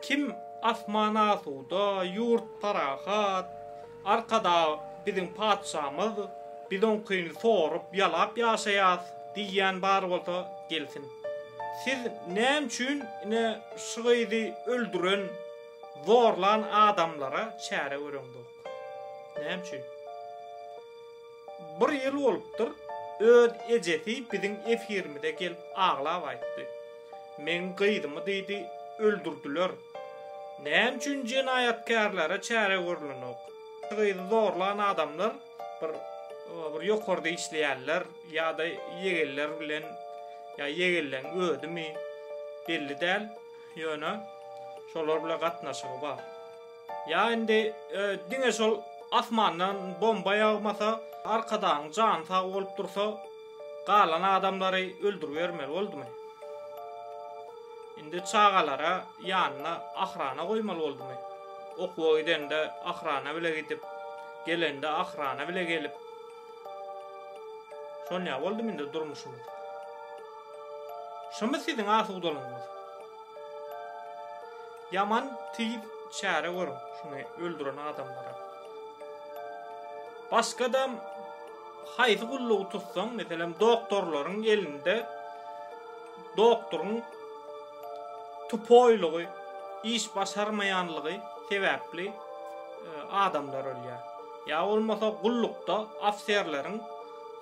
Kim asman asuda, ýurt parahat, Arkadag biziň patyşamyz, biz oňkyny sorup, ýalap ýaşaýas diýýän bar bolsa gelsin. Siz näme üçin ine şu gyzy öldüren, zorlan adamlara çäre göreňzok? Näme üçin? Bir ýyl bolupdyr, öz ejesi biziň efirimize gelip aglap aýtdy. Meň gyzymy diýdi, öldürdiler. Näme üçin jenaýatkärlere çäre görlenok? Gyzy zorlan adamlar bir bir ýokarda işleýärler ýa-da ýegenler bilen ýa ýegenleň özümi belli däl, ýöne şolar bilen gatnaşygy bar. Ýa indi diňe şol asmandan bomba ýagmasa, Arkadagyň jany sag bolup dursa, galan adamlary öldüribermeli boldumy? Indi çagalara ýanyna ahrana goýmaly boldumy? Okuwa gidende ahrana bile gidip, gelende ahrana bile gelip, şonýa boldumy indi durmuşymyz? Şumy siziň asudalygyňyz? Ýaman tiz çäre görüň şuny öldüren adamlara. Başgadam haýsy gullugy tutsaň, meselem doktorlaryň elinde doktoryň tupoýlugy, iş başarmaýanlygy sebäpli e, adamlar ölýär. Ýa bolmasa gullukda ofserleriň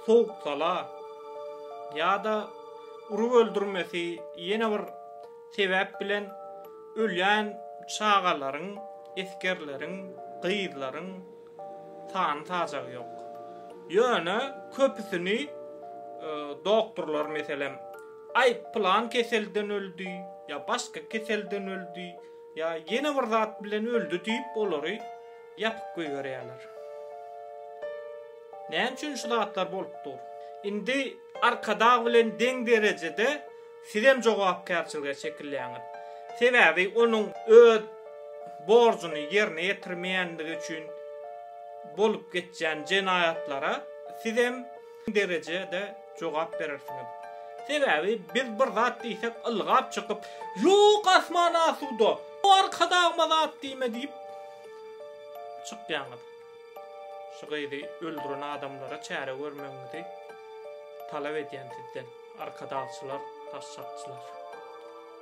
sowuksala ýa-da urup öldürmesi ýene bir sebäp bilen ölýän çagalaryň, esgerleriň, gyzlaryň sany-sajagy ýok. Ýöne köpüsini doktorlar, meselem, aý, pylan keselden öldi, ýa başga keselden öldi, ýa ýene bir zat bilen öldi diýip, olary ýapyp goýberýärler. Näme üçin şu zatlar bolup dur? Indi Arkadag bilen deň derejede sizem jogapkärçilige çekilýäňiz. Sebäbi onuň öz borjuny ýerine ýetirmeýänligi üçin bolup geçýän jenaýatlara sizem derejede jogap berersiňiz. Sebäbi biz bir zat diýsek ylgap çykyp, Ýok, asman asuda, o Arkadagyma zat diýme diýip çykýaňyz. Şu gyzy öldüren adamlara çäre görmegiňizi talap edýän sizden arkadagçylar, daşşakçylar.